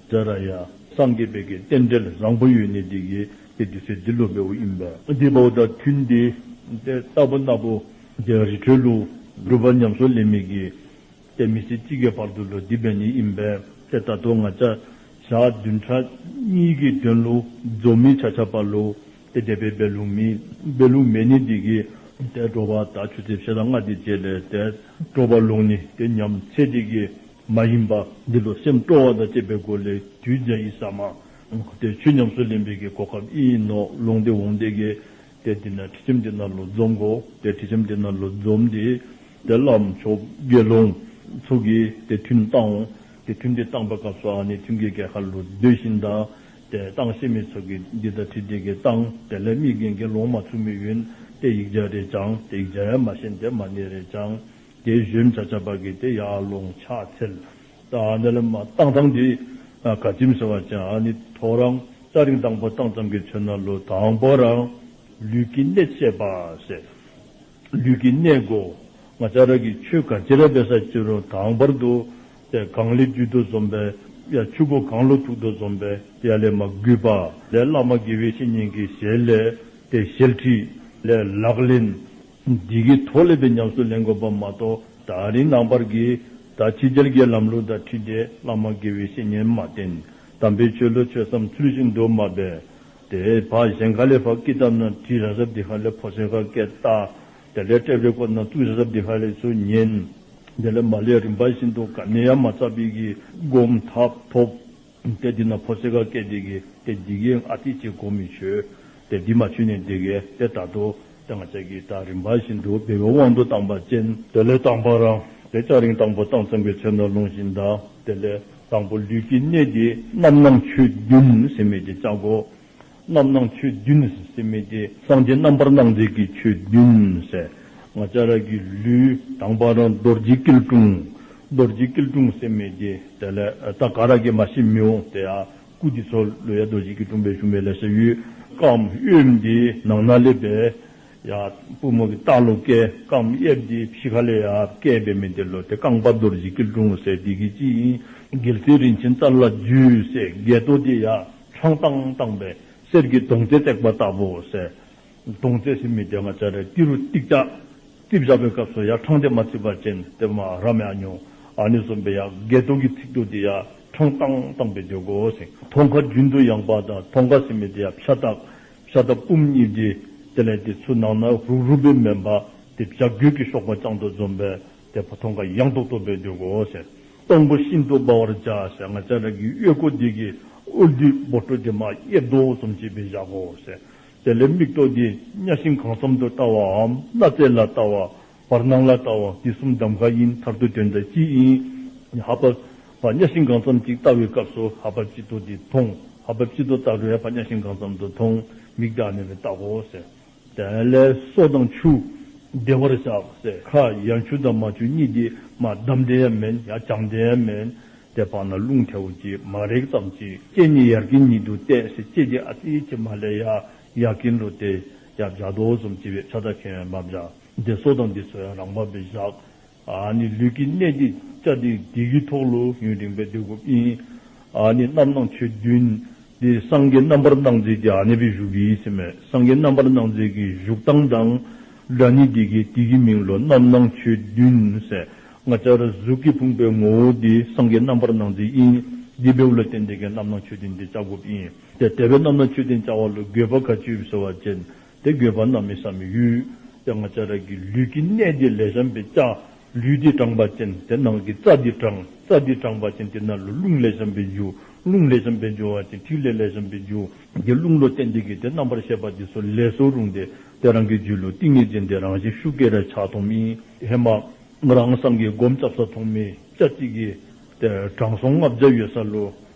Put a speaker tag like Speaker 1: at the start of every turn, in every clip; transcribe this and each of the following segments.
Speaker 1: བཛྲ་ར་ཡ། སངས་རྒྱས་དཔལ་གྱི་རྟེན་འབྲེལ་བཟང་པོ་ཡོད་ནི་འདི་ཡི་དེ་དུས་ཚེ་འདི་ལོ་བའི་དབུ་ཨིན་པ། འདི་བའོ་དང་མཐུན་ཏེ། དེ་ལྟ་བུ་ན་བོ། དེ་ཡང་རི་ཁྲོད་ལུགས། སྒྲུབ་པ་ཉམས་སུ་ལེན་མི་བགྱི། དེ་མི་ཚེ་གཅིག་གི་བར་དུ་ལོ་བསྡུས་པའི་ནི་ཨིན་པས་དེ་ལྟ་དུ་ང་བྱ། བྱ་བདུན་ཕྲག་གཉིས་ཀྱི་དོན་ལུགས་རྫོགས་མི་བྱ་བྱ་བ་ལུགས། དེ་འདས་པའི་སྦས་ལུགས་མིན། སྦས་ལུགས་མེད་ནི་འདི་ཡི། དེ་སྤྲོ་བ་དག་ཆུ་ཚོད་ཕྱེད་དང་ལྔ་སྟེ་བརྒྱད་ལས་དེ་སྤྲོ་བ་ལུགས་ནི་དེ་ཉམས་ཚེ་འདི་ཡི། མ་ཡིན་པ་འདི་ལོ་སེམས་སྤྲོ་བ་དང་བཅས་པའི་སྒོ་ལས་རྒྱུད་འཇའ་ཡི་ཟ་མ། དེར་ཆུ་ཉམས་སུ་ལེན་པའི་གེ་གོ་ཁབ་ཨི་ཡིན་ནོ་ལུང་སྟེ་འོང་སྟེ་གེ། དེ་དེ་ན་དྲི་ཆམ་དེ་ན་ལོ་འཛོམ་གོ། དེ་དྲི་ཆམ་དེ་ན་ལོ་འཛོམ་དེ། དེ་བླའམ་མཆོག་དགེ་སློང། ཚུགས་ཀྱིས་དེ་ཐུན་བཏང་ངོ། དེ་ཐུན་དེ་བཏང་པའི་སྐབས་སུ་ཨ་ནི་ཐུན་གྱི་གེ་ཁ་ལོ་ཟློས་ཤིང་དང། དེ་བཏང་ཤེས་མེད་ཚུགས་ཀྱིས་འདི་ལྟར་དྲི་དེ་གེ་བཏང་དེ་ལས་མིག་གིས་དགེ་སློང་མ་ཚུགས་མི་གཡོན་ཏེ་ཡིག་བརྒྱ་རེ་བཅང་དེ་ཡིག་བརྒྱ་ཡང་མ་ཤེས་དེ་མ་ནི་རེ་བཅང། དེ་བཞིན་བྱ་བྱ་བགེགས་དེ་ཡར་ཀླུང་ཕྱག་འཚལ། དེ་ལ་སྟག་ཐང་དེ་ག་ལྕིམ་ཟེར་བ་ཅན་ནི་ཐོ་རངས་སྐྱ་རེངས་དང་པོ་སྟག་ཚང་གི་ཆོས་ན་ལོ་དང་པོ་རང་ལུས་ཀྱི་གནད་བཤད་པ་ཟེར། ལུས་ཀྱི་གནད་སྒོ་ང་ཅག་རང་གི་ཆོས་ག་ཅི་ར་བས་ས་སྤྱི་རུང་དང་པར་དུ་ཏེ་གང་ལས་རྒྱུད་དུ་འཛོམས་པའི་ཡ་ཆུ་སྒོ་གང་ལོ་དྲུག་ཏུ་འཛོམས་པའི་ཡ་ལས་མ་གུས་པ་ལས་བླ་མ་དགེ་བའི་བཤེས་གཉེན་གྱི་ཞལ་ལས་དེ་ཞལ་ཁྲིད་ལས་ལག་ལེན། སྒྲིག་གི་ཐོག་ལེགས་པའི་ཉམས་སུ་ལེན་དགོས་པ་མ་གཏོགས་ད་རིང་ནང་པར་གྱི་ད་ཕྱི་རྒྱལ་དགེ་ལམ་ལུགས་དང་ཁྲིད་འདྲེ་བླ་མ་དགེ་བའི་བཤེས་གཉེན་མ་བསྟེན་དམ་པའི་ཆོས་ལུགས་ཆོས་སམ་ཚུལ་བཞིན་འགྲོ་མ་བས་དེ་ཕ་གཞན་ག་ལས་ཕ་ཀི་ཏབ་ན་དྲི་ར་ཟབ་འདི་ཧ་ལས་ཕོ་སེང་ཁ་སྐད་བཏགས་དེ་ལས་སྤྲེབ་རེ་ཁོ་ན་ཙུག་རེ་ཟབ་འདི་ཧ་ལས་ཚུལ་གཉེན་དེ་ལས་མ་ལས་རིམ་པ་བཞིན་དུ་ག་ནས་ཡ་མ་ཚ་བིས་གི་སྒོམ་ཐབས་ཐོབ། དེ་འདི་ན་ཕོ་གསེར་ག་སྐད་བདེ་གི་དེ་འདི་གི་ཨ་ཏི་ཅི་གོ་མི་ཆོད་དེ་འདི་མ་ཆུད་ནས་འདི་གི་དེ་ད་དུ་དེ་ང་ཅག་གིས་ད་རིམ་པ་བཞིན་དུ་སྦས་པའི་དབང་དུ་བཏང་པ་ཅན། དེ་ལས་དང་བ་རང་དེ་ལྕགས་རིང་དང་བོ་དང་མཚུངས་པའི་ཚེ་ནོར་ལུང་བཞིན་དང་དེ་ལས་དང་བོ་ལུས་ཀྱི་གནས་འདི་རྣམ་སྣང་ཆོས་བདུན་སེམས་མེད་ཀྱི་ལྕགས་སྒོ་རྣམ་སྣང་ཆོས་བདུན་ནི་སེམས་མེད་དེ། སངས་རྒྱས་རྣམ་པར་སྣང་མཛད་ཀྱི་ཆོས་བདུན། ང་ལྕགས་རྭ་གི་ལུས། དང་པ་རང་རྡོ་རྗེ་སྐྱིལ་ཀྲུང། རྡོ་རྗེ་སྐྱིལ་ཀྲུང་སེམས་མེད་དེ། དེ་ལས་ད་ག་ར་གས་མ་ཤི་མི་འོང་དེ། སྐུ་དེ་ཚོ་ལོ་ཡ་རྡོ་རྗེ་སྐྱིལ་ཀྲུང་པའི་ཞུམ་པའི་ལས་ས་གཡུལ། སྐམ་གཡོས་འདི་ནང་ན་སླེབས་པས། ཡ། པུས་མོ་གི་རྟ་ལོ་སྐད། སྐམ་གཡས་འདི་བཞི་ཁ་ལས་ཡ། སྐད་པའི་མི་དེ་ལོ་དེ་རྐང་པ་རྡོ་རྗེ་སྐྱིལ་ཀྲུང་སེ་འདི་གི་སྤྱི་ཡིན། སྒལ་ཚིགས་རིན་ཆེན་རྩ་ལ་རྒྱུས་སེ་སྒལ་ཏོ་དེ་ཡ། ཁྲོང་ཏང་བཏང་པས་གསེར་གྱི་དུང་རྩེ་བཏེགས་པ་ལྟ་བུ་ཟེར། དུང་རྩེ་ཟིན་མི་དེ་ང་ཅག་རེ་ཏི་རུ་ཏིག་ཏག་རྩིས་བཞག་པའི་སྐབས་སུ་ཡ་ཁྲང་དེ་མ་རྩིས་པར་ཅན་དེ་མ་རམ་ཡ་ཉུང་ཨ་ནི་གསུམ་པའི་ཡ་འགས་སྟོང་གི་ཚིག་ཐུག་དེ་ཡ་ཁྲང་ཏང་བཏང་པའི་འཇོག་གོ་ཟིང་ཐོང་ཁ་རྒྱུན་དུ་ཡང་པ་དང་ཐོང་ཁ་ཟིན་མི་དེ་ཡ་ཕྱ་ཐག་ཕྱ་ཐག་སྤུམ་གཉིས་བགྱིས་དེ་ལས་དེ་ཚུ་ནང་ན་རུག་རུག་པའི་མེ་འབར་དེ་བྱ་རྒོད་ཀྱི་གཤོག་པ་རྐྱང་དུ་འཛོམས་པས་དེ་བ་ཐོང་ཁ་གཡང་ཏོག་ཏོག་བེད་འདུག་གོ་ཞེས། སྟོང་པོ་ཤིན་ཏུ་སྦ་བར་བྱ་ཞེས་ང་ཅག་རང་གི་གཡོས་སྐུ་འདི་གི་དབུ་བདུད་སྦོ་ཁྲོ་དེ་མ་གཡས་རྡོ་བོ་ཟོམ་བྱེད་པས་བཞག་གོ་ཞེས། དེ་ལས་མིག་ཏོག་འདི་གཉའ་ཤིང་གང་འཚམ་དུ་བལྟ་བའམ་སྣ་རྩེ་ལ་བལྟ་བ། བར་སྣང་ལ་བལྟ་བ་འདི་གསུམ་གདམ་ག་ཡིན་མཐར་ཐུག་དོན་དང་སྤྱི་ཡིན། ཧ་བབ། བ་གཉའ་ཤིང་གང་འཚམ་ཅིག་བལྟ་བའི་སྐབས་སུ་ཧ་བབ་སྤྱི་ཏོ་འདི་མཐོང། ཧ་བབ་སྤྱི་ཏོ་བལྟ་བས་བ་གཉའ་ཤིང་གང་འཚམ་དུ་མཐོང། མིག་བདག་ནི་བས་བརྟག་གོ་ཞེས། དེ་ལས་སོ་དང་ཆུ་བདེ་བར་བྱ། སེར་ཁ་ཡང་ཆུ་དང་མ་ཆུ་གཉིས་ཀྱིས་མ་བསྡམས་དེ་ཡང་མིན་ཡང་ཅང་དེ་ཡང་མིན། དེ་བག་ན་རླུང་ཐལ་བོ་གྱིས་མ་རེག་ཙམ་གྱིས། ལྕེ་གཉིས་ཡར་གྱི་ཉིད་དུ་གཏད་ཞེས་ལྕེ་གཉིས་ཨ་ཏི་གྱིས་མ་ལས་ཡར་ཡར་གྱིས་འགྲོ་སྟེ། ཡར་བཞག་དོགས་གསུམ་བྱེད་པའི་ཕྱག་རྟགས་ཁས་མ་བཞག། འདི་སོ་དང་འདི་ཆུ་ཡང་རང་བབས་པས་བཞག། ནི་ལུས་ཀྱི་གནད་འདི་ལྕགས་སྡིག་སྡིག་གི་ཐོག་ལོ་ཡུན་རིང་པའི་སྡིག་སྒོ་ཡིན། ནི་རྣམ་སྣང་ཆོས་བདུན། འདི་སངས་རྒྱས་རྣམ་པར་སྣང་མཛད་ཀྱི་གནས་པའི་གཞུག་ཡིན་ཟེར་མོད་སངས་རྒྱས་རྣམ་པར་སྣང་མཛད་ཀྱི་གཞུག་སྟངས་དང་སྒྲ་ནི་འདི་གའི་སྡིག་གི་མིང་ལོ་རྣམ་སྣང་ཆོས་བདུན་ཟེར། ལྔ་ཆར་གཟུགས་ཀྱི་ཕུང་པོའི་ངོ་བོ་འདི་སངས་རྒྱས་རྣམ་པར་སྣང་མཛད་ཡིན། འདི་བེའུ་ལ་བརྟེན་འདི་གའི་རྣམ་སྣང་ཆོས་བདུན་འདི་ལྕགས་སྒོ་ཡིན། དེ་བེའུ་རྣམ་སྣང་ཆོས་བདུན་ལྕགས་བ་ལུ་གུས་པ་ག་ཅུས་ཟེར་བ་ཅན། དེ་དགོས་པ་ན་མི་བསམ་མི་གཡོ། དེ་སྔ་ལྕགས་རལ་གྱི་ལུས་ཀྱི་གནད་འདི་ལས་བྱམས་པའི་ལྕགས་ལུས་འདི་དྲངས་པ་ཅན་དེ་ནང་གི་རྩ་འདི་དྲངས་རྩ་འདི་དྲངས་པ་ཅན་དེ་ན་ལོ་རླུང་ལས་བྱམས་པའི་འཇུག་རླུང་ལས་བྱམས་པའི་འཇུག་བ་ཅན་ཐིག་ལེ་ལས་བྱམས་པའི་འཇུག་གི་རླུང་ལོ་སྟེ་འདི་གི་དེ་རྣམ་པར་ཤེས་པ་འདི་སོ་ལས་སོ་རུང་སྟེ་དེ་རང་གི་རྒྱུད་ལོ་ཏིང་ངེ་འཛིན་དེ་རང་བཞིན་ཤུགས་ཀྱི་རེག་བྱ་ཐོགས་མེད་ཧེ་མ། རང་སངས་ཀྱི་སྒོམ་བཅབས་ས་ཐོགས་མེད་བཅའ་གཅིག་གིས། དྲང་སྲོང་ལྔ་བརྒྱ་ཡོད་ས་ལོ།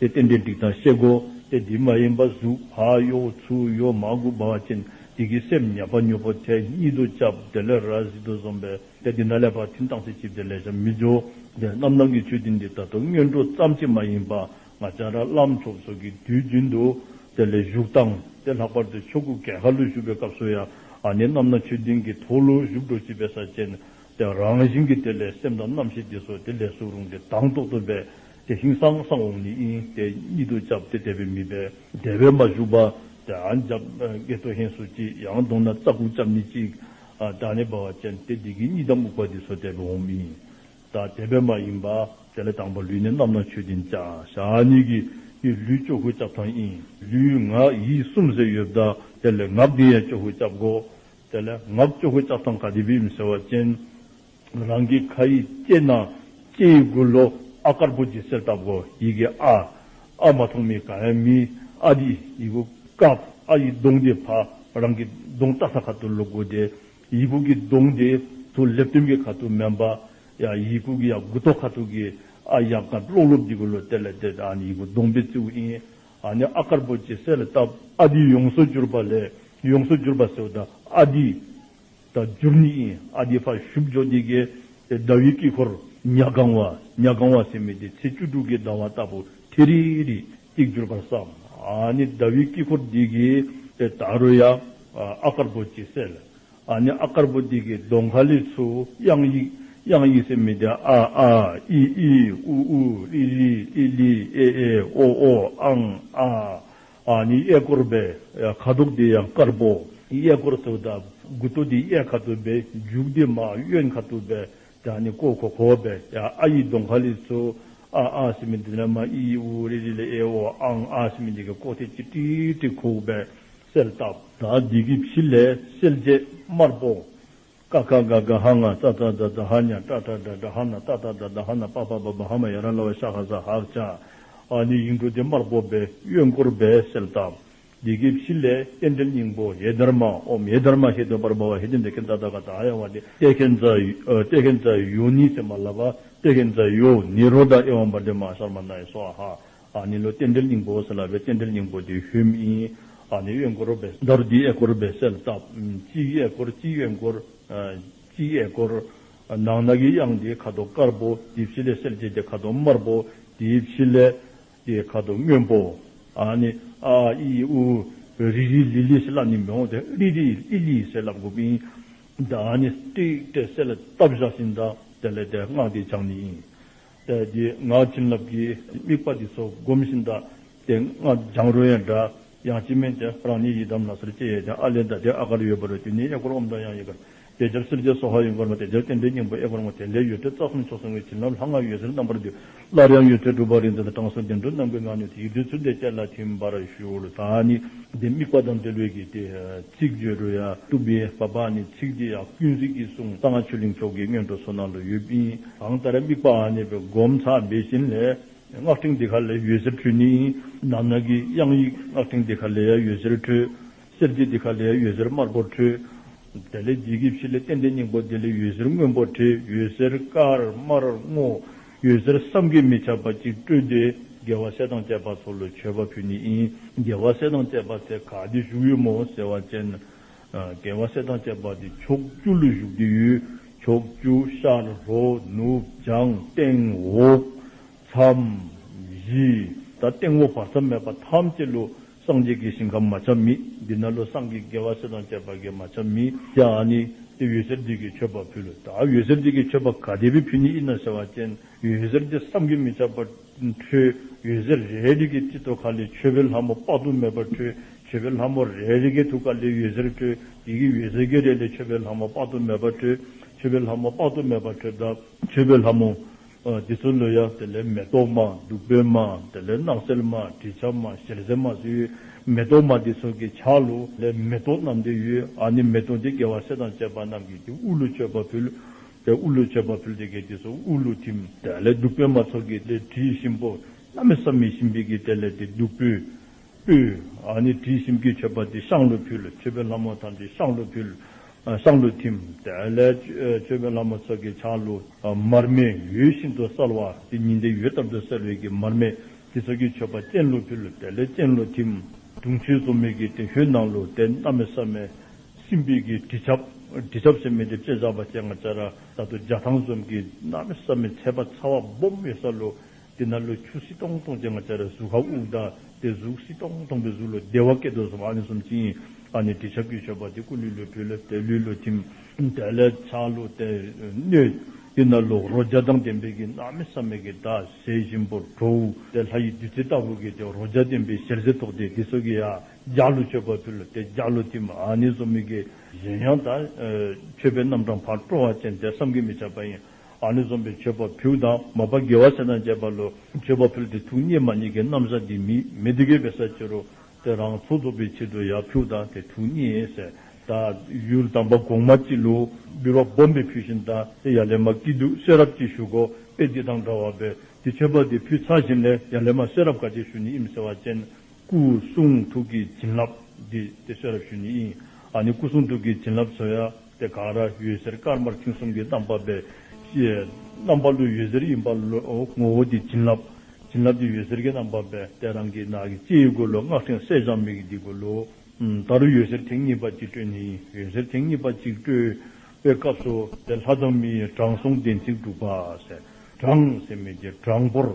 Speaker 1: དེ་རྟེན་འབྲེལ་འགྲིག་དང་བཤད་སྒོ་དེ་འདི་མ་ཡིན་པ་གཟུགས་བག་གཡོ་བོ་ཚུལ་གཡོ་མ་དགུ་འབར་བ་ཅན་འདི་གི་སེམས་ཉེས་པ་མྱུར་པོ་དེ་ཉིད་དུ་བཅབ་བདེ་ལས་ར་བཟི་དུ་བཟོམ་པའི་དེ་འདི་ན་ལས་པ་ཐིམ་དྭངས་སེ་བྱིབས་བདེ་ལས་ཞབས་མི་སྦྱོར་བདེ་རྣམ་སྣང་གི་ཆོས་འདི་འདི་ལྟར་དུ་སྔས་འགྲོ་ཙམ་གྱིས་མ་ཡིན་པ་ང་ཅག་ར་ལམ་ཚོགས་སོགས་ཀྱི་དུས་རྒྱུན་དུ་དེ་ལས་བཞུགས་སྟངས་དེ་ལྷག་པར་དུ་ཆོས་སྐུ་གས་ཁ་ལུད་བཞུགས་པའི་སྐབས་སུ་ཡང་ནི་རྣམ་སྣང་ཆོས་སྡིངས་ཀྱི་ཐོག་ལུད་བཞུགས་འགྲོ་བྱིས་པའི་ས་ཅན་དེ་རང་བཞིན་གྱི་དེ་ལས་སེམས་དང་རྣམ་ཤེས་འདི་སོགས་དེ་ལས་སུ་རུང་སྟེ་དྭངས་ཐོག་ཏུ་སྦས་དེ་ཤིང་སང་སང་འོང་ནི་ཨིན་ཏེ་གཉིད་དུ་བཅབས་ཏེ་དད་པའི་མི་སྦེད། དད་པའི་མ་བཞུགས་པ། དད་ཨ་འཇགས་སྐད་ཐོ་ཧེན་སོ་ཅིག་ཡང་གདོང་ན་རྩ་ཁུག་བཅབས་ནི་གཅིག། དགྲ་ནི་འབར་བ་ཅན་ཏེ་འདི་གི་གཉིད་དམ་འུག་པ་འདི་སོ་དད་པའི་འོང་མི་ཡིན། དང་དད་པའི་མ་ཡིན་པ། དེ་ལས་དང་པོ་ལུས་ནི་རྣམ་སྣང་ཆོས་ཀྱི་འཇའ་ཤ་ནི་གི་ཡི་ལུས་ཅོག་ཁུ་བཅབས་ཐང་ཨིན། ལུས་ངག་ཡིད་གསུམ་ཟེར་ཡོད་བདག་དེ་ལས་ངག་འདི་ཡང་ཅོག་ཁུ་བཅབས་གོ། དེ་ལས་ངག་ཅོག་ཁུ་བཅབས་ཐང་ག་འདི་བིའམ་ཟེར་བ་ཅན། རང་གི་ཁ་ཡི་ལྕེ་ན་ལྕེ་ཡི་མགུར་ལོ་ཨ་དཀར་པོ་ཇི་སེར་བཏབ་གོ་ཡི་གེ་ཨ། ཨ་མ་ཐོང་མི་ག་ཡ་མི་ཨ་དི་ཡི་གུ་ཀབ་ཨ་ཡི་གདོང་དེ་ཕ་རང་གི་གདོང་བལྟ་ས་ཁ་དུ་ལུག་གུ་དེ་ཡི་གུ་གི་གདོང་དེ་དུ་ལེབ་སྟོན་གི་ཁ་དུ་མན་པ་ཡ་ཡི་གུ་གི་ཡ་གུ་ཐོག་ཁ་ཐུག་གི་ཨ་ཡ་ག་ལོག་ལོག་གི་གུ་ལོ་དེ་ལ་དེ་ཨ་ནི་ཡི་གུ་གདོང་པི་ཙི་ཨུ་ཨི་ཨ་ནི་ཨ་དཀར་པོ་ཇི་སེར་བཏབ་ཨ་དི་ཡོངས་སུ་གྱུར་པ་ལས་ཡོངས་སུ་གྱུར་པ་སེའུ་ད་ཨ་དི། དང་བཅུར་གཉིས་ཨི་ཨ་དེ་ཕར་བཞུགས་འཇོག་དེ་ཀའི་ཟླ་བའི་དཀྱིལ་འཁོར་ཉག་གང་བ་ཉག་གང་བ་ཟེར་མི་དེ་ཚེས་བཅུ་དྲུག་གི་ཟླ་བ་ལྟ་བུ་ཐི་རི་རི་གཅིག་གྱུར་པར་བསམ། ནི་ཟླ་བའི་དཀྱིལ་འཁོར་དེ་ཀའི་ད་རུ་ཡ་ཨ་དཀར་པོ་གཅིག་གསལ། ནི་ཨ་དཀར་པོ་དེ་ཀའི་མདོ་མཁའ་ལས་ཚུར་དབྱངས་ཡིག་དབྱངས་ཡིག་ཟེར་མི་དེ་ཨ་ཨ་ཨི་ཨི་ཨུ་ཨུ་ཨི་ལི་ཨི་ལི་ཨེ་ཨེ་ཨོ་ཨོ་ཨང་ཨ་ཨ་ནི་གཡས་བསྐོར་བས་ཁ་དོག་དེ་ཡང་དཀར་པོ། གཡས་བསྐོར་དུ་དགུ་ཐོ་དེ་གཡས་ཁ་དོག་བས་མཇུག་དེ་མ་གཡོན་ཁ་དོག་བས་དེ་ནི་ཀོ་ཁོ་ཁོ་བས་ཨ་ཡིག་དོ་མཁའ་ལི་ཚུ། ཨ་ཨ་སི་མི་དི་ལ་མ་ཨི་ཨི་ཨུ་རི་རི་ལི་ཨེ་ཨོ་ཨང་ཨ་སི་མི་འདི་གི་ཀོ་ཐེ་ཅི་ཏི་ཏི་ཁུག་བས་སེལ་བཏབ། ད་འདི་གི་ཕྱི་ལས་སེལ་བྱེད་དམར་པོ། ཀ་ཀ་ག་ག་ཧ་ང་ཙ་ཙ་ཛ་ཛ་ཧ་ཉ་ཏྲ་ཏྲ་དྲ་དྲ་ཧ་ན་ཏ་ཏ་དྲ་དྲ་ཧ་ན་པ་པ་བ་བ་ཧ་མ་ཡ་ར་ལ་བ་ཤ་ཧ་ཟ་ཧག་ཅག་ཨ་ནི་ཡིག་འབྲུ་འདི་དམར་པོ་བས་གཡོན་སྐོར་བས་གསལ་བཏབ། ཡི་གེ་བཞི་ལས་རྟེན་འབྲེལ་སྙིང་པོ་ཧེ་དར་མ་ཨོམ་ཧེ་དར་མ་ཧེ་དོན་པར་སྦ་བ་ཧེ་ཏི་འདི་ཀན་ད་ད་ག་ད་ཧ་ཡ་བ་ཏི་ཏེ་ཀན་ཛ་ཏེ་ཀན་ཛ་ཡོ་ནི་སེ་མ་ལ་བ་ཏེ་ཀན་ཛ་ཡོ་ནི་རོ་ད་ཨེ་ཝམ་བ་ཏི་མ་ཤར་མ་ན་ཡེ་སོ་ཨ་ཧ་ནི་ལོ་རྟེན་འབྲེལ་སྙིང་པོ་ཟེར་ལ་བའི་རྟེན་འབྲེལ་སྙིང་པོ་དེའི་ཧུད་མིང། ནི་གཡས་བསྐོར་བའི། མདོར་བསྡུས་གཡས་བསྐོར་བའི་གསལ་བཏབ། སྤྱི་གཡས་བསྐོར་སྤྱི་གཡོན་བསྐོར། སྤྱི་གཡས་བསྐོར། ནང་ནག་གི་དབྱངས་དེའི་ཁ་དོག་དཀར་པོ། དེའི་ཕྱི་ལས་སེར་བྱེས་དེ་ཁ་དོག་དམར་པོ། དེའི་ཕྱི་ལས། དེའི་ཁ་དོག་སྔོན་པོ། ནི། ཨ་ཨ་ཨི་ཨི་ཨུ། རི་རི་ལི་ལི་ཟེར་ལ་ནི་མེ་འོང་སྟེ་ཨྲི་རི་ཨི་ལི་ཟེར་ལ་མགོ་བིང། ནི། ཏྲིག་ཏྲེ་གསལ་བཏབ་བཞག་བཞིན་དང་དེ་ལས་དེ་སྔགས་དེའི་བྱང་ནི། དཔལ་གྱི་སྔགས་བྱིན་རླབས་ཀྱིས་དམིགས་པ་འདི་སོགས་བསྒོམ་བཞིན་གདའ། དེ་སྔགས་སྦྱང་རོལ་ཡང་འདྲ། ཡང་ཅི་སྨོས་ཀྱང་རང་ཉིད་ཡི་དམ་ལ་སེར་སྐྱའི་ཡས་བྱང་ཨ་ལས་འདའ་དེ་ཨ་གར་ཡོད་པར་རྒྱུ་ནི་ཨེ་གོར་འོམ་དང་ཡང་ཡི་གར། དེ་རྒྱབ་སེར་སྐྱའི་སོ་ཧ་ཡི་འཁོར་མ་དེ་རྒྱབ་རྟེན་འབྲེལ་སྙིང་པོ་ཨེ་གོར་ངོ་དེ་ལས་ཡོད་ཚད་རྩ་གསུམ་མཆོག་གསུམ་གྱི་བྱིན་རླབས་ལྷ་སྔགས་ཡོད་ཚད་རྣམ་པར་བསྡུས། སླར་ཡང་ཡོད་ཚད་སྒྲུབ་པ་རིག་འཛིན་དང་དྲང་སྲོང་བདེ་འགྲོ་རྣམས་ཀྱི་སྔགས་ནུས་དེ་ཡི་བདུད་ཚུལ་འདི་སྐད་ལ་ཐིམ་པར་ཞུ་ལ་ད་ནི། འདི་དམིགས་པ་དང་འབྲེལ་ལུས་ཀྱི་དེ་ཚིག་བརྗོད་རོལ། ཀྲུབ་པའི་བ་པ་ནི་ཚིག་འདི་ཡང་ཀུན་གཟིགས་ཀྱིས་གསུངས་གསང་སྔགས་ཆོས་གླིང་མཆོག་གི་སྔོན་འགྲོ་སོ་ནང་དུ་ཡོད་པིན། གང་ལྟར་དམིགས་པའང་རྙེད་པའི་སྒོམ་ཚག་མེད་བཞིན་ལས། སྔགས་ཕྲེང་འདི་ག་ལས་ཡོད་ཟེར་འཕྲོས་ནི། ནག་ནག་གི་དབྱངས་ཡིག་སྔགས་ཕྲེང་འདི་ག་ལས་ཡ་ཡོད་ཟེར་འཕྲོས། གསེར་གྱི་འདི་ག་ལས་ཡ་ཡོད་ཟེར་དམར་པོར་འཕྲོས། དེ་ལས་རྒྱལ་གྱི་བྱི་ལས་གཏན་བདེའི་སྙིང་པོ་འདི་ལས་ཡོད་ཟེར་སྔོན་པོ་བྲི་ཡོད་ཟེར་དཀར་དམར་སྔོ། ཡོད་ཟེར་བསམ་གྱིས་མི་ཁྱབ་པ་ཅིག་སྤྲོས་ཏེ་རྒྱལ་བ་སྲས་དང་བཅས་པ་ཚོ་ལ་མཆོད་པ་ཕུལ་ནི། རྒྱལ་བ་སྲས་དང་བཅས་པ་ཚེ་གང་འདི་བཞུགས་ཡོད་མོ་ཟེར་བ་ཅན། རྒྱལ་བ་སྲས་དང་བཅས་པ་སྟེ་ཕྱོགས་བཅུ་ལུས་བཞུགས་ཀྱི་ཡུལ། ཕྱོགས་བཅུ་ཤར་ལྷོ་ནུབ་བྱང་སྟེང་འོག། མཚམས་བཞི་དང་སྟེང་འོག་བར་མཚམས་མེད་པ་ཐམས་ཅད་ལུས་སངས་རྒྱས་ཀྱི་ཞིང་ཁམས་མ་ཆགས་མིད། འདི་ན་ལུས་སངས་རྒྱས་རྒྱལ་བ་སྲས་དང་བཅས་པ་དགེ་མ་ཆགས་མིད། ཀྱེ་ཨ་ནི་ཏི་འོད་ཟེར་འདི་ཀྱི་མཆོད་པ་ཕུལ་ལོ། ད་འོད་ཟེར་འདི་ཀྱི་མཆོད་པ་ག་དེ་བས་ཕུལ་ནི་ཨི་ན་ཟེར་བ་ཅན་འོད་ཟེར་འདི་བསམ་གྱིས་མི་ཁྱབ་པར། འཁྲུལ། ཡུལ་ཟེར་རེ་རེ་རིགས་ཀྱི་སྤྱི་ཐོག་ཁ་ལས་ཆོས་པའི་ལྷ་མོ་དཔག་ཏུ་མེད་པ་འཁྲུལ། ཆོས་པའི་ལྷ་མོ་རེ་རེ་ཀའི་ཐུགས་ཀ་ལས་ཡུལ་ཟེར་འཁྲུལ། ཡི་གེ་ཡུལ་ཟེར་བརྒྱད་རེ་ལས་ཆོས་པའི་ལྷ་མོ་དཔག་ཏུ་མེད་པ་འཁྲུལ། ཆོས་པའི་ལྷ་མོ་དཔག་ཏུ་མེད་པ་འཁྲུལ་ད། ཆོས་པའི་ལྷ་མོ། འདི་ཚོ་ལོས་ཡག་དེ་ལས་མེ་ཏོག་མ། བདུག་སྤོས་མ། དེ་ལས་སྣག་སེལ་མ། དྲི་ཆབ་མ། ཞལ་ཟས་མ་སོགས་ཡོད། མེ་ཏོག་མ་འདི་ཚོ་གི་ཆ་ལུ། ལས་མེ་ཏོག་རྣམས་དེ་ཡོད། ཨ་ནི་མེ་ཏོག་འདི་དགེ་བ་སྲས་དང་བཅས་པ་རྣམས་ཀྱིས་དེ་དབུལ་ལོ་མཆོད་པ་ཕུལ། དེ་དབུ་ལུས་བྱས་པ་ཕུལ་ཏེ་གལ་ཏེ་སོགས་དབུ་ལུས་ཐིམ། དེ་ལས་བདུག་སྤོས་མ་ཚོགས་ཀྱི་དེ་དྲི་ཞིམ་པོ་བླ་མེད་བསམ་མི་ཤིས་འབིགས་ཀྱི་དེ་ལས་དེ་བདུག་སྤོས། སྤོས། ནི་དྲི་ཞིམ་གྱི་མཆོད་པ་དེ་ཤངས་ལུས་ཕུལ་མཆོད་པའི་ལྷ་མོ་ཐམས་ཅད་ཤངས་ལུས་ཕུལ། ཤངས་ལུས་ཐིམ། དེ་ལས་མཆོད་པའི་ལྷ་མོ་ཚོགས་ཀྱི་ཆང་ལུ། མར་མེ་ཡོད་བཞིན་དུ་གསལ་བ་དེ་ཉི་ཟླའི་ཡོད་ལྟར་དུ་གསལ་བའི་གྱི་མར་མེ་དེ་ཚོགས་ཀྱི་མཆོད་པ་སྤྱན་ལུས་ཕུལ་དེ་ལས་སྤྱན་ལུས་ཐིམ། དུང་ཆོས་རྩོམ་མེད་ཀྱི་དེ་ཧུད་ནང་ལུས་དེ་བླ་མེད་བསམ་མི་སྲིན་བལ་གྱི་དྲི་ཆབ། དྲི་ཆབ་སེམས་མེད་དེ་བཅད་བཟའ་བ་སྤྱན་སྔར་སྤྱན་རས་ད་དུ་འཇའ་ཐང་གསུམ་གྱི་སྣང་བས་བསམ་མི་ཁྱད་པ་ཚ་བ་སྦོམ་ཡོད་ས་ལོ། དེ་ན་ལོ་ཁྱུ་སྲི་སྟོང་སྟོང་སྤྱན་སྔར་སྤྱན་རས་གཟུགས་ཧ་དབུགས་བདའ་སྟེ་གཟུགས་སྲི་སྟོང་སྟོང་པའི་གཟུགས་ལོ་བདེ་བ་སྐད་དོད་གསུམ་ཨ་ནི་གསུམ་སྤྱི་ཡིན་ཨ་ནི་དྲི་ཆབ་ཀྱིས་ཆོད་པ་དེ་ཀུན་ལུས་ལོ་བྲུས་ལ་བལྟས་ལུས་ལོ་ཐིམ། བལྟས་ལ་ཆགས་ལུས་བལྟས་གནོད། དེ་ན་ལོ་རོ་འཇའ་དང་ལྡན་པས་ཀྱི་སྣང་མེད་བསམ་མེད་ཀྱི་དག་ཟས་གཤིན་པོར་བྲོ། དེ་ལྷ་ཡི་བདུད་རྩི་ལྟ་བུ་གིས་ཀྱི་རོ་འཇའ་ལྡན་པའི་ཞལ་ཟས་ཐོགས་ཏེ་དེ་སོགས་ཀྱི་ཡ། འཇའ་ལུས་སྤྱོད་པ་ཕུལ་ལ་དེས་འཇའ་ལུས་ཏིམ་ཨཱ་ནི་སོ་མི་ཀའི་གཟན་ཡང་དག་མཆོད་པའི་རྣམ་གྲངས་བར་སྤྲོ་བ་ཅན་དེ་བསམ་གྱིས་མི་ཁྱབ་པ་ཡིན་ཨཱ་ནི་སོམ་པའི་མཆོད་པ་ཕུལ་དང་མོ་པ་དགེ་བ་ཆེ་དང་བཅས་པ་ལོ་མཆོད་པ་ཕུལ་ཏེ་ཐུགས་སྙེ་མ་གཉིས་ཀའི་རྣམ་གཞག་འདི་མི་མི་དགེ་བའི་ས་ཕྱི་རུ་སྟེ་རང་ཚུགས་རྫོགས་པའི་ཕྱིར་དུ་ཡང་ཕུལ་དང་དེ་ཐུགས་སྙེ་སའི་དང་ཡུལ་དམ་པ་གོང་མ་སྤྱི་ལུགས་འབུལ་བ་སྦོམ་པས་ཕུལ་བཞིན་དང་དེ་ཡ་ལེ་མ་སྐྱིད་སྡུག་ཤེས་རབ་ཀྱིས་ཞུགས་གོ་དཔེ་འདི་དང་འདྲ་བ་བས་འདི་མཆོད་པ་འདི་ཕུལ་ཚར་བཞིན་ལས་ཡ་ལེ་མ་ཤེས་རབ་དགའ་བྱེད་ཞུ་ནི་ཨིམ་སེ་བ་ཅན། སྐུ་གསུང་ཐུགས་ཀྱི་བྱིན་རླབས་འདི་སྟེ་ཤེས་རབ་ཤུན་ནི་ཨ་ནི་སྐུ་གསུང་ཐུགས་ཀྱི་བྱིན་རླབས་ཚོལ་ཡ་སྟེ་གང་ར་ཡོད་ཟེར་དཀར་དམར་མཐིང་གསུམ་གྱི་རྣམ་པ་པའི་རྣམ་པ་ལུས་ཡོད་ཟེར་གཡོན་པ་ངོ་བོ་དེ་བྱིན་རླབས་བྱིན་རླབས་དེ་ཡོད་ཟེར་གྱི་རྣམ་པ་པའི་ལྟས་རང་གི་ནགས་ཀྱི་ལྕེའི་མགོ་ལོ་སྔགས་ཕྲེང་སྲས་བྱང་མིག་གི་སྡིགས་མགོ་ལོ་ད་རུ་ཡོད་ཟེར་ཐེངས་གཉིས་པ་གཅིག་སྤྲོས་ནི་ཡོད་ཟེར་ཐེངས་གཉིས་པ་གཅིག་སྤྲོས་པའི་སྐབས་སུ་དེ་ལྷ་དང་མིའི་དྲང་སྲོང་བདེན་ཚིག་འབྲུག་པ་ཟེར་གྲངས་སེ་མེད་ཀྱི་གྲངས་འབོར།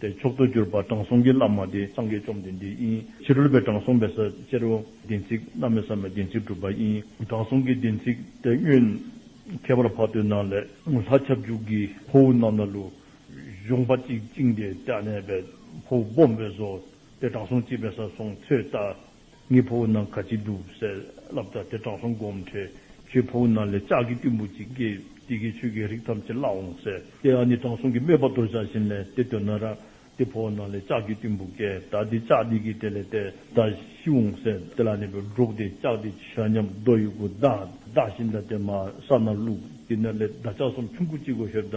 Speaker 1: དེར་མཆོག་ཏུ་གྱུར་པ་དྲང་སྲོང་གི་བླ་མ་དེ་སངས་རྒྱས་བཅོམ་ལྡན་འདས་ཡིན་ཕྱིར་རོལ་པའི་དྲང་སྲོང་མེད་ས་ཅེར་རོ། བདེན་ཚིག་རྣམས་མེད་ས་མའི་བདེན་ཚིག་གྲུབ་པ་ཡིན། དྲང་སྲོང་གི་བདེན་ཚིག་དེ་བསྙོན། ཁྱད་པར་བར་དོའི་ནང་ལས་ལྷ་ཁྱབ་འཇུག་གི་ཕོ་བོ་རྣམས་ལ་ལུས། གཞུང་པ་གཅིག་བཅིངས་ཏེ་བསྐྱལ་ནས་པའི་ཕོ་བོ་སྦོམ་པོའི་བཟོ། དེ་དྲང་སྲོང་གཅིག་པའི་ས་སོང་ཚོད་ལྟ། ངའི་ཕ་བུ་རྣམས་ག་ཅིག་འདུག་ཟེར། བསླབ་བྱ་དེ་དྲང་སྲོང་སྒོམ་བྲལ་ཁྱོད་ཕ་བུ་རྣམས་ལས་ལྕགས་ཀྱི་གཏུན་བུ་གཅིག་བསྐྱེད་དེ་ཁྱོད་ཆོས་ཀྱི་རིགས་ཐམས་ཅད་བརླག་འོང་ཟེར་ཏེ་ཨ་ནི་དྲང་སྲོང་གིས་སྨྲས་པ་དོར་བྱ་བཞིན་ལས་དེ་དོན་ན་ར་དེ་ཕོ་བ་རྣམས་ལས་ལྕགས་ཀྱི་གཏུན་བུ་བསྐྱེད་ད་དེ་ལྕགས་འདི་གིས་དེ་ལས་དེ་ད་ཤི་འོང་ཟེར་དེ་ལ་ནི་བུ་འགྲོགས་དེ་ལྕགས་འདི་ཇི་ཞག་ཉམས་རྡོ་ཡི་གུ་ད་ད་བཞིན་ད་དེ་མ་ས་ན་བླུགས་དེ་ནས་ལས་ད་ལྕགས་གསུམ་ཆུང་ཁུ་གཅིག་གོ་ཧེར་ད།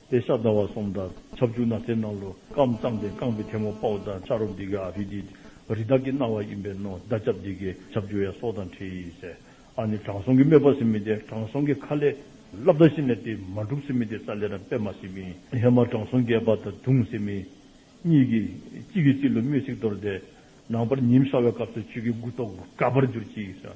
Speaker 1: དེ་ཤ་ཟླ་བ་གསུམ་དང་ཆབ་བཅུ་ན་ཚའི་ནང་ལོ་སྐམ་བཙངས་ཏེ་རྐང་པའི་ཐལ་མོ་དཔའ་བོ་དང་ཕྱག་རོག་འདི་གའི་ཨ་བྷི་དེ་རི་དྭགས་ཀྱི་རྣ་བ་ཡིན་པས་ནོ་བདག་ཅབ་འདི་གའི་ཆབ་བཅུ་ཡང་སྲོག་དང་འཁྲིལ་ཡིན་ཟེར་ཨ་ནི་དྲང་སྲོང་གི་སྨོད་པ་སིམ་མི་དེ་དྲང་སྲོང་གི་ཁ་ལས་ལབ་ད་ཤི་ནས་དེ་མ་འགྲུབ་སིམ་མི་དེ་ས་ལས་རང་པད་མ་སིམ་མི་ཧེ་མ་དྲང་སྲོང་རྒས་པ་དང་བརྡུངས་སིམ་མི་གཉིས་ཀྱིས་གཅིག་གིས་གཅིག་ལ་སྨོད་ཚིག་དོར་ཏེ་ནང་པར་ཉིན་ཤར་བའི་སྐབས་སུ་ཆོས་ཀྱི་སྐུ་ཐོག་དགའ་བར་གྱུར་ཅིག་ཟེར་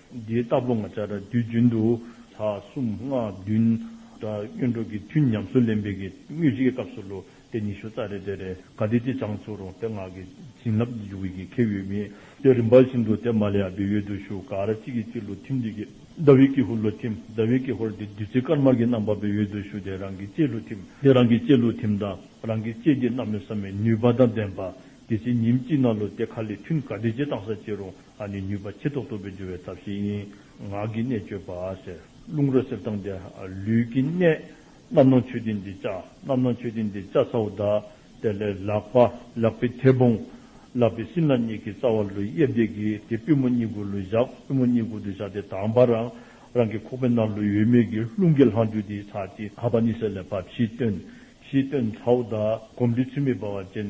Speaker 1: འདི་ལྟ་བུ་ལྔ་ཆ་དྲག་འདུལ་རྒྱུན་དུ། ལྷ་གསུམ་སྔགས་བདུན། དང་གཡོན་འཕྲོག་གི་དུས་ཉམས་སུ་ལེན་པའི་གི་དངོས་གཞིའི་སྐབས་སུ་ལོ་དེ་ཉི་ཤུ་རྩ་རེ་དེ་རེ་ག་དེ་ཅི་བྱང་ཆུབ་རུང་སྟེ་སྔགས་ཀྱི་བྱིན་རླབས་ཀྱི་འཇུག་པའི་ཁེ་ཡོད་མི་དེ་རིམ་པ་བཞིན་དུ་དེ་མ་ལས་ཡང་བེ་ཡོད་དུ་ཞུ་གར་གཅིག་གིས་གཅིག་ལུས་ཐིམ་དུས་ཀྱི་ཟླ་བའི་ཀེ་ཧུར་ལུས་ཐིམ་ཟླ་བའི་ཀེ་ཧུར་དེ་བདུད་རྩི་དཀར་དམར་གྱི་རྣམ་པ་བེ་ཡོད་དུ་ཞུ་དེ་རང་གི་ལྕེ་ལུས་ཐིམ་དེ་རང་གི་ལྕེ་ལུས་ཐིམ་དང་རང་གི་ལྕེ་འདི་རྣམས་ལས་བསམ་མེད་ནུས་པ་དང་ལྡན་པ་དེ་ཕྱི་ཉིན་གཅིག་ན་ལུས་དེ་ག་ལས་ཐུན་ག་དེ་ཅི་བཏང་ས་ཅི་རུང་ཨ་ནི་ནུས་པ་ཆེ་ཐོག་ཐོག་པའི་སྦྱོར་བའི་ཐབས་ཤིང་ངག་གི་གནད་བཅོས་པ་ཟེར། རླུང་རོ་གསེབ་དང་འདྲ་ལུས་ཀྱི་གནད། རྣམ་སྣང་མཆོད་རྟེན་འདི་བཅའ། རྣམ་སྣང་མཆོད་རྟེན་འདི་བཅའ་ཚ་བོ་བཟླ། དེ་ལས་ལག་པ་ལག་པའི་མཐེ་བོང། བསླབ་པའི་སྲིན་ལག་གཉིས་ཀྱི་རྩ་བ་ལུས་གཡས་བརྡེག་གིས་དེ་པུས་མོ་གཉིས་མགུལ་ལོ་བཞག་པུས་མོ་གཉིས་མགུལ་དུ་བཞག་སྟེ་དྭངས་པ་རང་རང་གི་ཁོག་པའི་ནང་ལུས་ཡོད་མེད་ཀྱི་རླུང་གི་ལྷང་འགྱུར་དེའི་ཚ་དེ། ཧ་པ་ནི་ཟེར་ལས་བབས་བཞིས་བཏོན། བཞིས་བཏོན་ཚ་བོ་བཟླ། གོམས་འདྲིས་ཚུལ་མིན་འབར་བ་ཅན།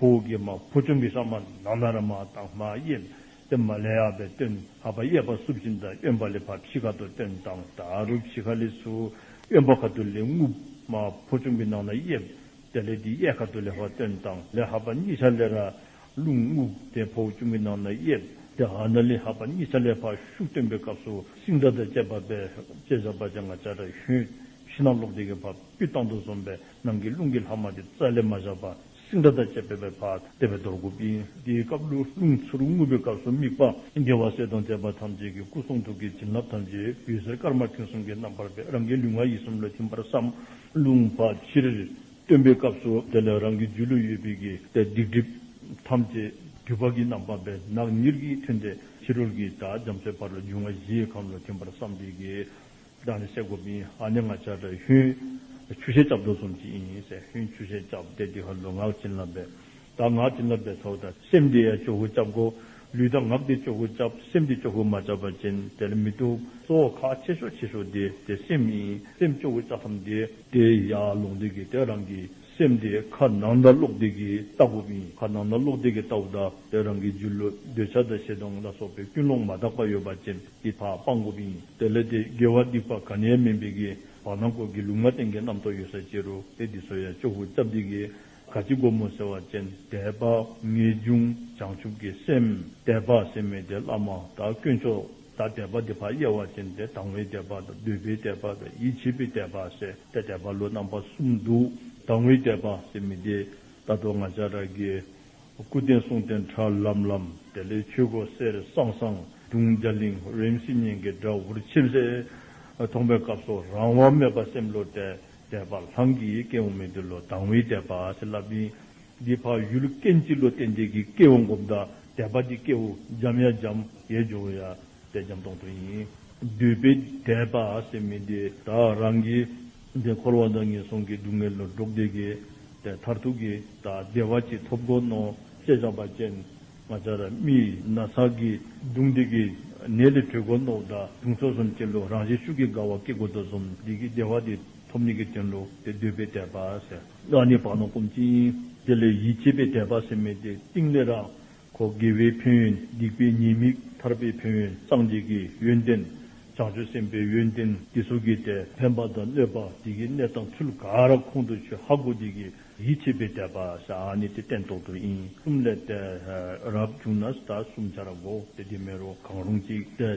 Speaker 1: ཧཱུྃ་གི་མ་བུ་ཆུང་གི་ཤ་མ་ནག་ན་ར་མ་དང་མ་གཡེལ་ཏེ་མ་ལས་ཡར་བའི་སྟོན་ཨ་བ་གཡས་པ་སྲུབས་ཅིང་དང་གཡོན་པ་ལས་བབས་ཤིག་ཁ་དོག་སྟོན་དང་ད་རུབ་ཤིག་ཁ་ལི་སུ་གཡོན་པ་ཁ་དོག་ལས་རྔུབ། མ་བུ་ཆུང་གི་ནང་ན་གཡེལ་ཏེ་ལས་དེའི་གཡས་ཁ་དོག་ལས་བ་སྟོན་དང་ལས་ཧ་པ་གཉིས་ཆ་ལས་ར་ལུག་རྔུབ་སྟེ་བུ་ཆུང་གི་ནང་ན་གཡེལ་ཏེ་ཧ་ན་ལི་ཧ་པ་གཉིས་ཆ་ལས་བ་ཤུག་སྟོན་པའི་སྐབས་སུ་སིང་སྒྲ་དང་བཅས་བབས་པས་ལྕེ་བཞག་པ་ཅང་ང་བྱ་བྲ་ཤུན་བཞི་སྣ་ལོག་སྟེ་གི་བབས་དཀྱུས་བཏང་དུ་འཛོམས་པས་ནང་གི་རླུང་གི་ལྷག་མ་དེ་རྩ་ལས་མ་བཞག་པར་སིང་སྒྲ་དང་བཅས་པས་པའི་བར་བལྟས་པའི་དོར་གུ་པིན་དེའི་སྐབས་ལུས་རླུང་ཚུར་རྔུབ་པའི་སྐབས་སུ་དམིགས་པ། རྒྱལ་བ་སྲས་དང་དད་པ་ཐམས་ཅད་ཀྱི་སྐུ་གསུང་ཐུགས་ཀྱི་བྱིན་རླབས་ཐམས་ཅད་བུ་ཟེར་དཀར་དམར་མཐིང་གསུམ་གྱི་རྣམ་པར་པས་རང་གི་ལུས་ངག་ཡིད་གསུམ་ལ་ཐིམ་པར་བསམ། རླུང་བབས་ཕྱིར། སྟོན་པའི་སྐབས་སུ་དེ་ལས་རང་གི་སྒྱུ་ལུས་ཡོད་པའི་གི་ཏའི་སྡིག་སྒྲིབ་ཐམས་ཅད་དུས་བབས་ཀྱི་རྣམ་པར་པས་ནག་ཉིལ་གྱིས་ཐོན་ཏེ་ཕྱི་རོལ་གྱི་དགྲ་བྱམས་སའི་བར་ལ་སྒྱུ་ང་བཞིའི་ཁམས་ལ་ཐིམ་པར་བསམ་སྟེ་གི་བདག་ནི་སྲས་གོ་པིན་ཧ་ནི་ང་བྱ་བྲལ་ཧུན། ཆུ་ཤེལ་ལྕགས་སྒྲོག་གསུམ་གྱིས་ཨིན་ཡིན་སྲས་ཧུན་ཆུ་ཤེལ་ལྕགས་བདེ་བདེ་ཧ་ལོ་ངག་བྱིན་རླབས་པའི་བདག་ངག་བྱིན་རླབས་པའི་ཚོགས་དང་སེམས་བདེ་ཡ་ཅོ་ཧུ་སྐྱབས་གོ། ལུས་དང་ངག་བདེ་ཅོ་ཧུ་སྐྱབས་སེམས་བདེ་ཅོ་ཧུ་མ་བྱ་བ་ཅན་དེར་མི་ཐུབ། གཙོ་བོ་ཁ་ཆེ་ཤོག་ཆེ་ཤོག་བདེ་བདེ་སེམས་ཨིན་སེམས་ཅོ་ཧུ་ལྕགས་ཁམས་བདེ། བདེ་ཡ་ལུང་བདེ་གི་དེ་རང་གི་སེམས་བདེ་ཁ་ནང་ཟླ་ཀློག་བདེ་གི་ལྟ་བུ་ཨིན་ཁ་ནང་ཟླ་ཀློག་བདེ་གི་ལྟ་བུ་དང་དེ་རང་གི་རྒྱུ་ལུས་འདོད་ཆགས་དང་ཞེ་སྡང་ལ་སོགས་པའི་ཀུན་སློང་མ་དག་པ་ཡོད་པ་ཅན། འདི་དག་སྤང་དགོས་པ་ཡིན། དེ་ལས་དེ་དགེ་བ་སྡིག་པ་ག་ནས་མིན་པའི་གི་བག་ན་མགོ་གི་ལུག་མ་སྟེང་གི་རྣམ་རྟོག་ཡོད་སར་ཅི་རུ་དཔེ་འདི་ཚོ་ཡང་ཅོག་བུ་རྩ་བརྡིག་གི་ག་ཅི་སྒོར་མོ་ཟེར་བ་ཅན་དད་པ་ངེས་འབྱུང་བྱང་ཆུབ་ཀྱི་སེམས་དད་པ་སེམས་མེད་དེ་བླ་མ་དང་དཀོན་མཆོག་དང་དད་པ་དེ་ཕ་གཡས་བ་ཅན་དེ་དང་བའི་དད་པ་དང་འདོད་པའི་དད་པ་དང་ཡིད་ཆེས་པའི་དད་པ་ཟེར་ཏེ་དད་པ་ལོ་རྣམ་པ་གསུམ་འདུག་དང་བའི་དད་པ་སེམས་མེད་དེ་ད་དུང་ང་ཅག་ར་དགེ་སྐུ་རྟེན་གསུང་རྟེན་ཁྲ་ལམ་ལམ། དེ་ལས་ཆོས་སྒོ་གསེར་སང་སང། དུང་བརྒྱ་གླིང་རིམ་སིལ་སྙན་གྱི་སྒྲ་འུར་ཆེམ་སེ། ཐོག་མའི་སྐབས་སུ་རང་དབང་མེད་པར་སེམས་བློ་དད་དད་པ་ལྷང་གིས་སྐྱེས་འོང་མི་འདི་ལོ་དང་བའི་དད་པ་ཞེས་བསླབ་ཅིང། འདིའི་འཕགས་ཡུལ་སྐད་མཆིས་བློ་གཏད་འདས་ཀྱི་སྐྱེས་འོང་གོམས་དགའ་དད་པ་གྱི་སྐྱེ་བོ་འཇམ་ཡ་འཇམ་ཡའི་ཇོ་བོ་ཡ་དད་འཇམ་སྟོང་ཐུགས་ཡིན། འདུས་པའི་དད་པ་ཞེས་མི་འདི་དག་རང་གིས། འདིར་འཁོར་བ་འདི་ངན་སོང་གི་སྡུག་བསྔལ་ལོ་འབྲོག་སྡེ་དགེ། མཐར་ཐུག་གི་དག་བདེ་བ་ཅི་ཐོབ་གོ་ནོ་ཅེས་བྱ་བ་ཅན། ང་ཅག་ར་མི་ན་ས་ཀི་སྡུག་འདི་ཀི་ནད་དེ་གྲོལ་གོ་ནོ་བདག་དུང་སོ་གསུམ་སྐྱེ་ལོ་རང་བཞིན་ཤུགས་ཀི་དགའ་བ་ཀི་གོ་དོ་སོམ་འདི་ཀི་བདེ་བ་དེ་ཐོབ་ནི་ཀི་དྲན་ལོ་དེ་འདོད་པའི་དད་པ་སེ། བདག་ནི་བག་ན་བསྐུམ་ཅིང་དེ་ལས་ཡིད་ཆེས་པའི་དད་པ་སེ་མེད་དེ་ཏིང་ལེ་ར། གོ། དགེ་བའི་ཕན་ཡོན་སྡིག་པའི་ཉེས་དམིགས་ཐར་པའི་ཕན་ཡོན་སངས་རྒྱས་ཀྱི་ཡོན་ཏན་བྱང་ཆུབ་སེམས་དཔའི་ཡོན་ཏན་གྱི་གཟུགས་ཀྱི་དེ་ཕན་པ་དང་གནོད་པ་དེ་གི་གནས་དང་ཚུལ་ག་ར་ཁོང་དུ་ཆུད་ཧ་གོ་དེ་གི་ཡིད་ཆེས་པའི་དད་པ་ས་ཨ་ནི་དེ་སྟན་ཐོག་ཏུ་ཨིན་གསུམ་ལས་ཏེ། རབ་བྱུང་ན་ས་གསུམ་བྱ་ར་གོ་དེ་དེ་མེ་རུ་གང་རུང་ཅིག་ཏེ།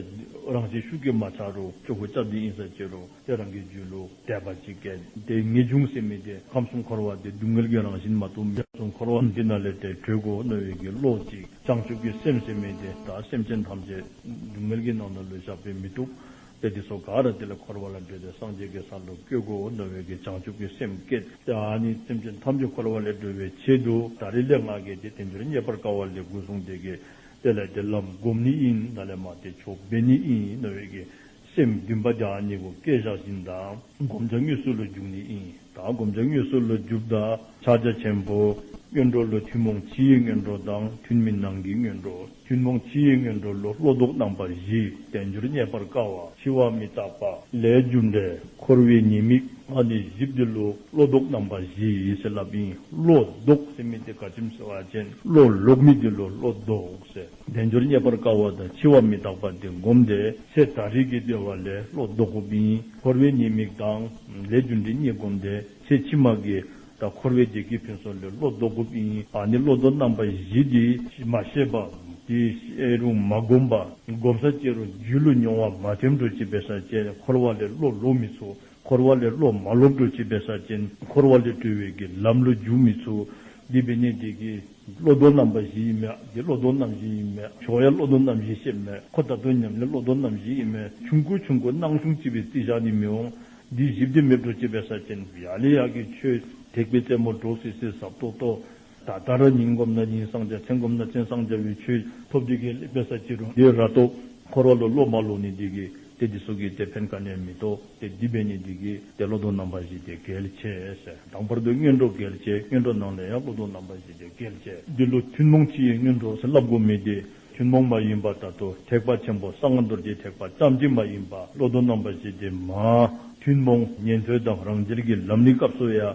Speaker 1: རང་བྱས་ཤུགས་ཀྱིས་མ་ཆག་རུ་སྤྱོད་གོ་སྐྱབས་འདི་ཨིན་ས་བཅད་རུ། ཁྱེད་རང་གི་རྒྱུད་ལུགས་དད་པ་ཅི་སྐད། དེ་ངེས་ཅུང་ཟད་མི་བདེ་ཁམས་གསུམ་འཁོར་བ་འདི་སྡུག་བསྔལ་གྱི་རང་བཞིན་མ་གཏོགས་མི་གསུང་འཁོར་བ་འདི་ན་ལས་དེ་གྲོལ་གོ་བསྣོལ་བའི་གི་བློ་ཅིག་བྱང་ཆུབ་ཀྱི་སེམས་ཟེར་མི་དེ་དག་སེམས་ཅན་ཐམས་ཅད་སྡུག་བསྔལ་གྱི་ནང་ན་ལུས་ཞགས་པས་མི་གཏུགས་པས་འདི་སོ་ག་ར་དེ་ལས་འཁོར་བ་ལ་འབྲོས་ཏེ་སངས་རྒྱས་ཀྱི་ས་ལ་བསྐྱོད་གོ་བསྣོལ་བའི་གི་བྱང་ཆུབ་ཀྱི་སེམས་བསྐྱེད་དེ་ཨ་ནི་སེམས་ཅན་ཐམས་ཅད་འཁོར་བ་ལས་སྒྲོལ་བའི་ཆེད་དུ་ད་རེས་ལས་སྔགས་གལ་ཏེ་དེ་འདིར་རྙེད་པར་དཀའ་བ་ལས་དགུན་གསུང་དེ་གི་དེ་ལས་དེ་ལམ་བསྒོམ་ནི་ཨིན་ན་ལས་མ་དེ་ཆོག་སྦས་ནི་ཨིན་ནོ་བའི་གི་སེམས་བདུན་པ་ཀྱང་གཉིས་པོ་བསྐལ་བཞག་བཞིན་དང་བསྒོམ་བྱ་དངོས་སུ་ལོ་རྒྱུགས་ནི་ཨིན་དང་བསྒོམ་བྱ་དངོས་སུ་ལོ་རྒྱུགས་དང་ཕྱག་རྒྱ་ཆེན་པོ། སྔོན་འགྲོ་ལོ་ཐུན་མོང་ཕྱི་ཡི་སྔོན་འགྲོ་དང་ཐུན་མིན་ནང་གི་སྔོན་འགྲོ་ཐུན་མོང་ཕྱི་ཡི་སྔོན་འགྲོ་ལོ་བློ་ལྡོག་རྣམ་པ་བཞི་བདེ་འགྱུར་རྙེད་པར་དཀའ་བ་འཆི་བ་མི་རྟག་པ་ལས་རྒྱུ་འབྲས་འཁོར་བའི་ཉེས་དམིགས་ལྔ་ནི་བཞི་བདེ་ལོ་བློ་ལྡོག་རྣམ་པ་བཞི་ཡི་སྲིད་རླབས་ཨིན་བློ་ལྡོག་སེམས་མི་བདེ་དགའ་ཆེམས་ཟེར་བ་ཅན་བློ་ལོག་མི་བདེ་ལོ་བློ་ལྡོག་ཟེར། བདེ་འབྱོར་རྙེད་པར་དཀའ་བ་དང་འཆི་བ་མི་རྟག་པ་འདི་བསྒོམས་ཏེ་ཚེ་ད་རིག་གིས་བསྟོད་པ་ལས་བློ་ལྡོག་གོ། འཁོར་བའི་ཉེས་དམིགས་དང། ལས་རྒྱུ་འབྲས་གཉིས་བསྒོམས་ཏེ་ཚེ་ཕྱི་མ་གི། ད་འཁོར་བའི་བདེ་སྐྱིད་ཕུན་སོགས་ལས་བློ་ལྡོག་གོ། ཨ་ནི་བློ་ལྡོག་རྣམ་པ་བཞི་འདི། ཞེས་མ་ཤེས་པ། དེ་ཤེས་རུང་མ་བསྒོམས་པ། བསྒོམ་ས་བཅད་རུང་རྒྱུད་བློ་མྱོང་བ་མ་ཐེམ་འཕྲོ་བྱེད་པའི་ས་བཅད་འཁོར་བ་ལས་བློ་ལོག་མི་ཚུགས། འཁོར་བ་ལས་བློ་མ་ལོག་སྒྲོལ་བྱེད་པའི་ས་ཅན། འཁོར་བ་ལས་སྒྲོལ་བའི་དགེ་ལམ་བློ་འཇུག་མི་ཚུགས། འདི་བས་ནི་དེ་དགེ། བློ་ལྡོག་རྣམ་པ་བཞི་ཡིན་མོད་དེ་བློ་ལྡོག་རྣམ་བཞི་ཡིན་མོད་ཆོག་ཡ་བློ་ལྡོག་རྣམ་བཞི་ཤེས་མོད་ཁོ་ད་དུང་ཉམས་ལེན་བློ་ལྡོག་རྣམ་བཞི་ཡིན་མོད་ཆུང་དགོས་ཆུང་དགོས་སྣང་གཞུང་ལྕི་བའི་རྩིས་བཞག་ནི་མི་འོང། འདི་བཞི་བདེན་མེད་སྒྲོལ་བྱེད་པའི་ས་ཅན། ཡག་ལས་ཡག་གི་ཆོས། ཐེག་པའི་རྩེ་མོར་འགྲོ་སིལ་སིལ་ཟབ་ཏོག་ཏོག། ད་ལྟར་ཉིན་བསྒོམས་ན་ཉིན་སངས་རྒྱ་མཚན་བསྒོམས་ན་མཚན་སངས་རྒྱ་བའི་ཆོས་ཐོབ་འདི་གའི་ལེགས་པའི་ས་ཅི་རུ་འདི་ར་ཏོག། འཁོར་བ་ལོ་བློ་མ་ལོ་ནི་འདི་གའི་དེ་འདི་སོ་གའི་དེ་ཕན་ཀ་ནས་མི་ཏོ་དེ་འདི་བས་ནི་འདི་གའི་དེ་བློ་དོང་རྣམ་པ་བཞི་དེ་གལ་ཆེ་ཟེར་དང་བར་དོའི་སྙོན་གྲོགས་གལ་ཆེ་སྙོན་གྲོགས་ནང་ལས་ཡང་བློ་དོང་རྣམ་པ་བཞི་དེ་གལ་ཆེ། འདི་ལོ་ཐུན་མོང་སྤྱི་ཡི་སྙོན་གྲོགས་ཟེར་བསླབ་སྒོ་མི་དེ་ཐུན་མོང་མ་ཡིན་པ་ད་དོ་ཐེག་པ་ཆེན་པོ་གསང་བ་རྡོ་རྗེ་ཐེག་པ་ཙམ་གྱིས་མ་ཡིན་པ་བློ་དོང་རྣམ་པ་བཞི་དེ་མ། ཐུན་མོང་ཉན་ཐོས་དང་རང་རྒྱལ་གྱི་ལམ་ནི་སྐབས་སུ་ཡང